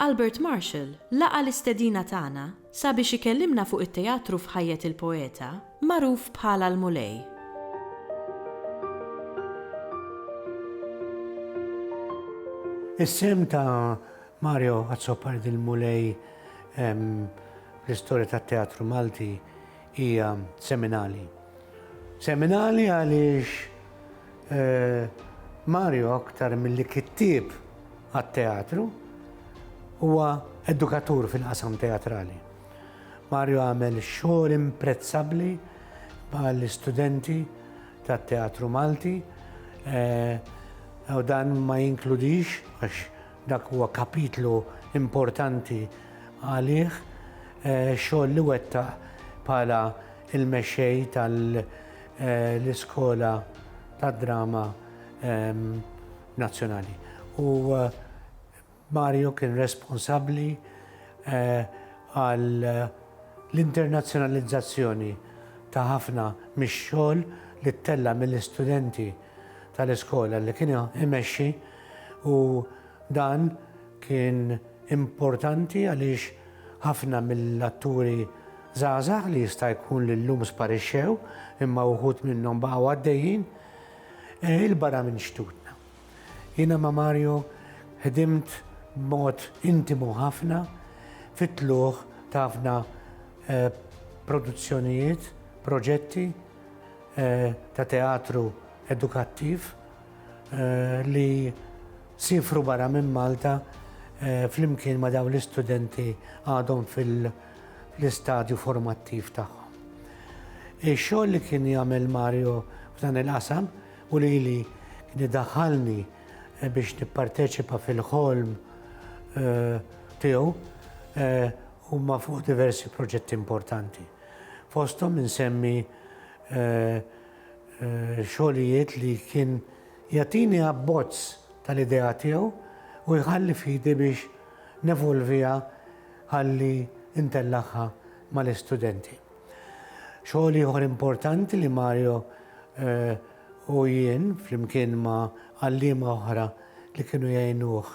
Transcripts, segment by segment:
Albert Marshall laqa' l-istedina tagħna sabiex ikellimna fuq it-teatru f'ħajjet il-poeta magħruf bħala l-Mulej. Is-sehem ta' Mario Azzopardi l-Mulej fl-istorja tat-teatru Malti Hija seminali. Seminali għaliex Mario aktar milli kittieb għat-teatru huwa edukatur fil-qasam teatrali. Mario għamel xogħol imprezzabbli mal-istudenti tat-teatru Malti u dan ma jinkludix għax Dak huwa kapitlu importanti għalih, xogħol li wettaq bħala l-mexxej tal-Iskola tad-Drama Nazzjonali. U Mario kien responsabbli għall-internazzjonalizzazzjoni ta' ħafna mix-xogħol li ttella' mill-istudenti tal-iskola li kien imexxi. u dan kien importanti għaliex ħafna mill-atturi żgħażagħ li jista' jkun li llum sparixxew imma wħud minnhom baqgħu għaddejjin 'il barra minn xtutna. Jiena ma' Mario ħdimt b'mod intimu ħafna fit-tlugħ ta' ħafna produzzjonijiet, proġetti ta' teatru edukattiv li siefru barra minn Malta flimkien ma' dawn l-istudenti għadhom fil-istadju formattiv tagħhom. Ix-xogħol li kien jagħmel Mario f'dan il-qasam u lili kien idaħħalni biex nipparteċipa fil-ħolm tiegħu huma fuq diversi proġetti importanti. Fosthom insemmi xogħlijiet li kien jagħtini abbozz tal-idea tiegħu u jħalli f'idi biex nevolviha ħalli ntellagħha mal-istudenti. Xogħol ieħor importanti li Mario u jien flimkien ma' għalliema oħra li kienu jgħinuh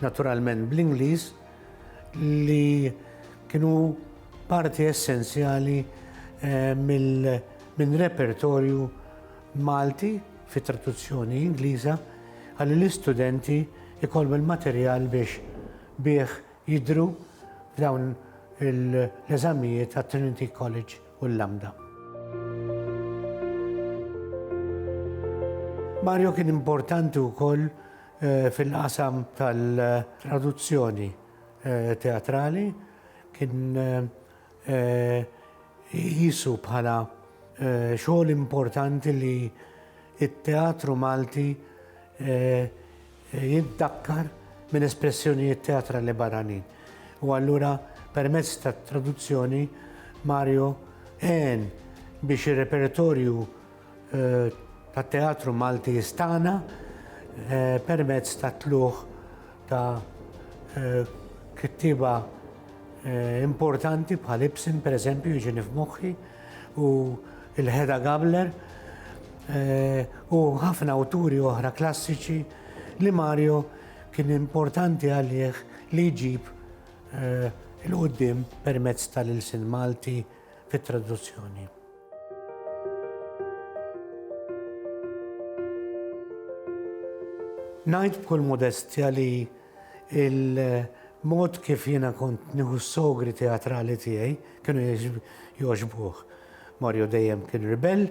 naturalment bl-Ingliż, li kienu parti essenzjali minn repertorju Malti fit-traduzzjoni Ingliża ħalli l-istudenti jkollhom il-materjal biex bih jidhru f'dawn l-eżamijiet għat-Trinity College u l-Lambda. Mario kien importanti wkoll Fil-qasam tal-traduzzjoni teatrali kien iqisu bħala xogħol importanti li t-teatru Malti jiddakkar minn espressjonijiet teatrali barranin. U allura permezz tat-traduzzjoni Mario għen biex ir-repertorju tat-Teatru Malti Istana permezz tat-tlugħ ta' kittieba importanti bħal Ibsen pereżempju jiġini f'moħħi u lil Hedda Gabler u ħafna awturi oħra klassiċi li Mario kien importanti għalih li jġib 'il quddiem permezz tal-ilsien Malti. fit-traduzzjoni. Ngħid b'kull modestja li il-mod kif jiena kont nieħu s-sogri teatrali tiegħi kienu jogħġbuh. Mario dejjem kien ribell,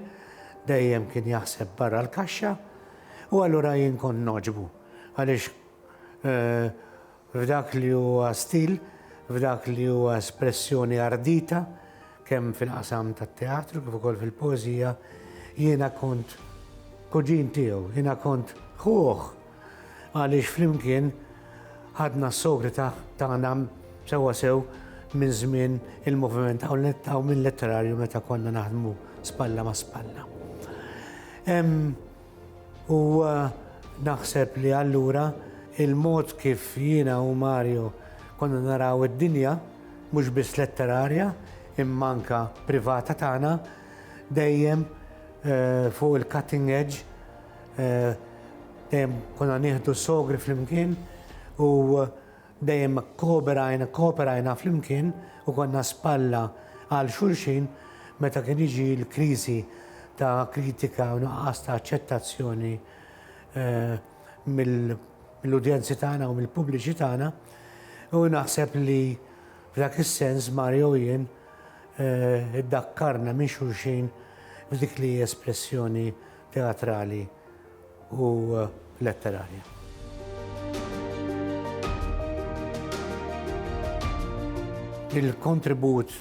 dejjem kien jaħseb barra l-kaxxa u allura jien kont noġbu għaliex eh, F'dak li huwa stil, f'dak li huwa espressjoni ardita, kemm fil-qasam tat-teatru kif ukoll fil-poeżija, jiena kont kuġin tiegħu, jiena kont ħuh għaliex flimkien ħadna s-sogri tagħna sewwa sew minn żmien il-moviment Awmin Letterarju meta konna naħdmu spalla ma' spalla. Hemm U naħseb li allura il-mod kif jiena u Mario konna naraw id-dinja, mhux biss letterarja imma anke privata tagħna, dejjem fuq il-cutting edge, dejjem konna nieħdu s-sogri flimkien u Dejjem kooperajna, kooperajna flimkien u konna spalla għal xulxin meta kien jiġi l-kriżi ta' kritika u nuqqas ta' aċċettazzjoni mill-udjenzi tagħna u mill-pubbliċi tagħna. U naħseb li f'dak is-sens Mario u jien iddakkarna minn xulxin f'dik li hi espressjoni teatrali. u letterarja. Il-kontribut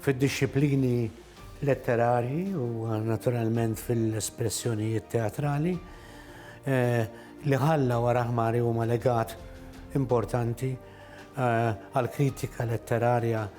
fid-dixxiplini letterarji u naturalment fil-espressjonijiet teatrali li ħalla wara ħmari huma legat importanti għall-kritika letterarja